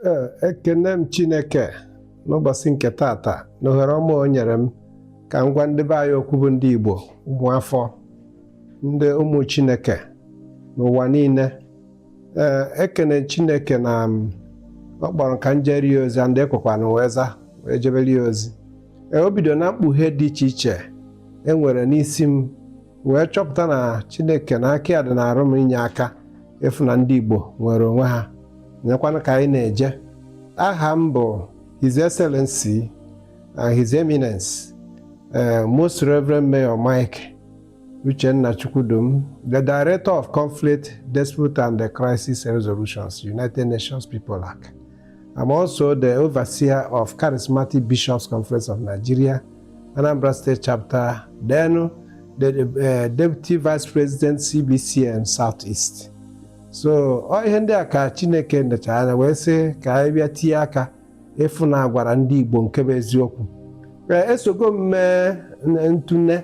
Ee, ekene m Chineke n'ụbọchị nke tata na ohere ọma o nyere m ka m gwa ndị be anyị okwu bụ ndị Igbo ụmụafọ ndị ụmụ Chineke n'ụwa niile ee ekene Chineke na ọ kpọrọ ka m jere ya ozi and ekwekwanụ wee za wee jebere ya ozi ee o bido na mkpughe dị iche iche e nwere n'isi m wee chọpụta na chineke na aka ya dị na arụ m inye aka ịfụ na ndị igbo nwere onwe ha nyekwana ka anyị na-eje aha m bụ his excellency and his eminence eh, most reverend mayor mike uchenna chukwudum the director of conflict dispute and the crisis resolutions united nations pepolac I'm also the overseer of Charismatic Bishops Conference of Nigeria, Anambra State Chapter, then the uh, Deputy Vice President CBCN Southeast. So ọ ihe ndị a ka Chineke nechara anya wee sị ka anyị bịa tinye aka ịfụ na a gwara ndị Igbo nke bụ eziokwu. Ee, esogo m mee ntụne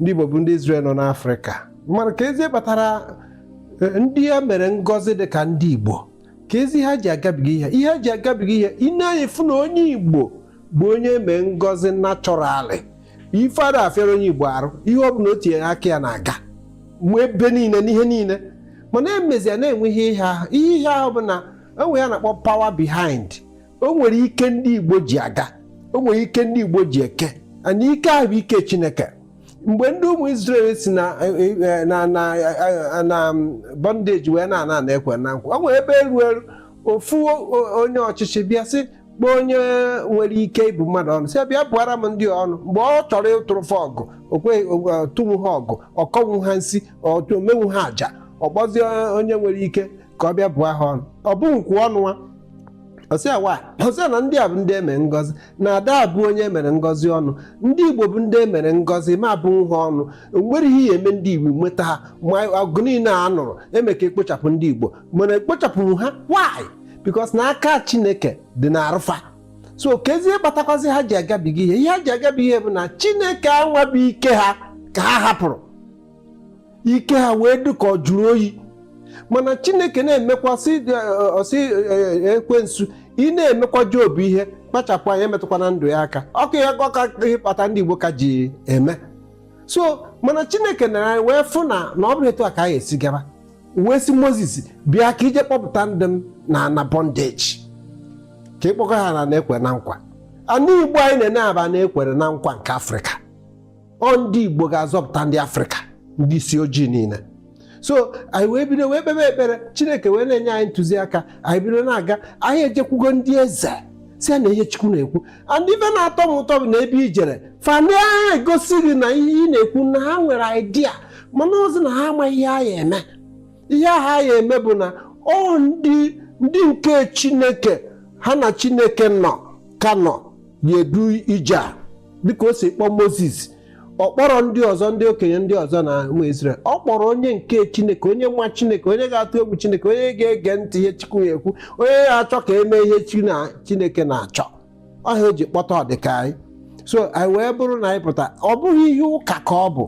ndị Igbo bụ ndị Izrel nọ n'Afrịka mana kezi ihe kpatara e, ndị e mere ngọzi dị ka ndị Igbo kezi ha ji agabiga ihe ihe ha ji agabiga ihe i nee anya ị fụ na onye Igbo bụ onye e mee ngọzi naturally ife ada afịara onye Igbo arụ ihe ọ bụla o tinyere aka ya na-aga mgbe ebe niile n'ihe niile mana e mezịa na-enwe ihe ihe ahụ ihe ihe ahụ bụ na e nwee ihe a na-akpọ power behind o nwere ike ndị Igbo ji aga o nwere ike ndị Igbo ji eke and ike ahụ bụ ike Chineke mgbe ndị ụmụ Izrel si na e, e, e, na na na bondage wee na-ana ana e kwe na nkwa o nwere ebe e ruru ofu onye ọchịchị bịa sị kpọọ onye nwere ike ịbụ mmadụ ọnụ sị bịa bụara m ndị a ọnụ mgbe ọ chọrọ ịtụrụ fa ọgwụ ọ tụnwu ha ọgwụ ọ kọnwu ha nsi o menwu ha aja ọ kpọzie onye nwere ike ka ọ bịa bụọ ha ọnụ ọ bụ nkwu ọnụ ọ sị awa ọ sị na ndị a bụ ndị e mere ngọzi na ada abụ onye e mere ngọzi ọnụ ndị igbo bụ ndị e mere ngọzi ma abụ nha ọnụ o nwere ihe a ya eme ndị igbo nweta ha ma ọgụ niile a nụrụ eme ka e kpochapụ ndị igbo mana e kpochapụrọ ha why because na aka chineke dị na arụ fa so kezi ihe kpatakwazi ha ji agabiga ihe ihe ha ji agabiga ihe bụ na chineke anwa bụ ike ha ka ha hapụrụ ike ha wee dị ka ọ jụrụ oyi mana chineke na-emekwa sị ọ sị ekwensu ị na-emekwa job ihe kpachapụ anya emetụkwana ndụ ya aka ọ bụ ya ọka ihe kpata ndị igbo ka ji eme so mana chineke nee anya wee fụ na na ọ bụrụ etu a ka ha esi gaba wee sị moses bịa ka i je kpọpụta ndị m na na bondage ka ị kpọga ha n'ana e kwe na nkwa ana igbo anyị na-ene a bụ ana e kwere na nkwa nke afrịka ọ ndị Igbo ga-azọpụta ndị Afrịka ndị isi ojii niile so anyị wee bido wee kpebe ekpere Chineke wee na-enye anyị ntụziaka anyị bido na-aga anyị ejekwugo ndị eze sị ya na ihe Chukwu na-ekwu and ife na-atọ m ụtọ bụ na ebe i jere fa na-egosi gị na ihe ị na-ekwu na ha nwere idea mana ozi na ha amaghị ihe a ya-eme ihe ha ya-eme bụ na ọ ndị nke Chineke ha na Chineke nọ ka nọ ya-edu ije a dịka o si kpọọ moses ọ kpọrọ ndị ọzọ ndị okenye ndị ọzọ na ụmụ Izrel ọ kpọrọ onye nke Chineke onye nwa Chineke onye ga-atụ egwu Chineke onye ga-ege ntị ihe Chukwu ya-ekwu onye ga-achọ ka e mee ihe Chineke na-achọ ọ ihe a e ji kpọta ọdịka anyị so anyị wee bụrụ na anyị pụta ọ bụghị ihe ụka ka ọ bụ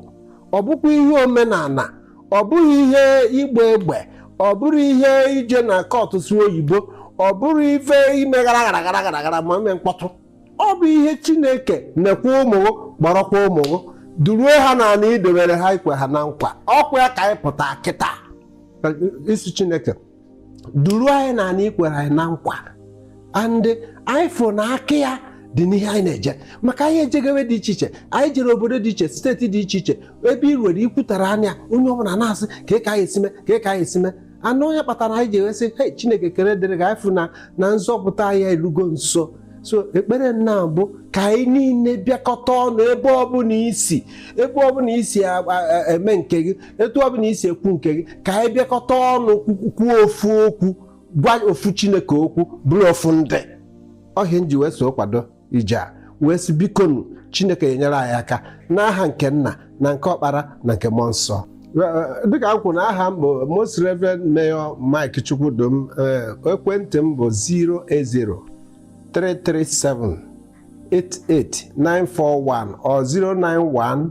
ọ bụkwa ihe omenala ọ bụghị ihe ịgba egbe ọ bụrọ ihe ije na kọtụ sụọ oyibo ọ bụrọ ife ime gara gara gara gara gara ma ime mkpọtụ ọ bụ ihe chineke nekwa ụmụ gị kpọrọkwa ụmụ gị duruo ha n'ana i dobere ha i kwe ha na nkwa ọ kwa ya ka anyị pụta kịta ịsị chineke duruo anyị n'ana i kwere anyị na nkwa and anyị fụrụ na aka ya dị n'ihe anyị na-eje maka anyị ejego ebe dị iche iche anyị jere obodo dị iche steeti dị iche iche ebe i ruere i kwutara anya onye ọbụla na-asị kee ka anyị esi eme kee ka anyị esi eme and ọ ya kpatara anyị ji wee sị he chineke ekene dịrị gị anyị fụ na na nzọpụta anyị erugo nso so ekpere nna bụ ka anyị niile bịakọta ọnụ ebe ọbụla i si ebe ọbụla i si a- a- a- eme nke gị etu ọ bụla i si ekwu nke gị ka anyị bịakọta ọnụ kwuo ofu okwu gwa ofu chineke okwu bụrụ ofu ndị ọ ihe a m ji wee so kwado ije a wee sị bikonu chineke ya-enyere anyị aka n'aha nke nna na nke ọkpara na nke mmụọ nsọ dịka m kwuru na aha m bụ most reverend mayor mike chukwudum ekwentị m bụ 080 337 88941 or 091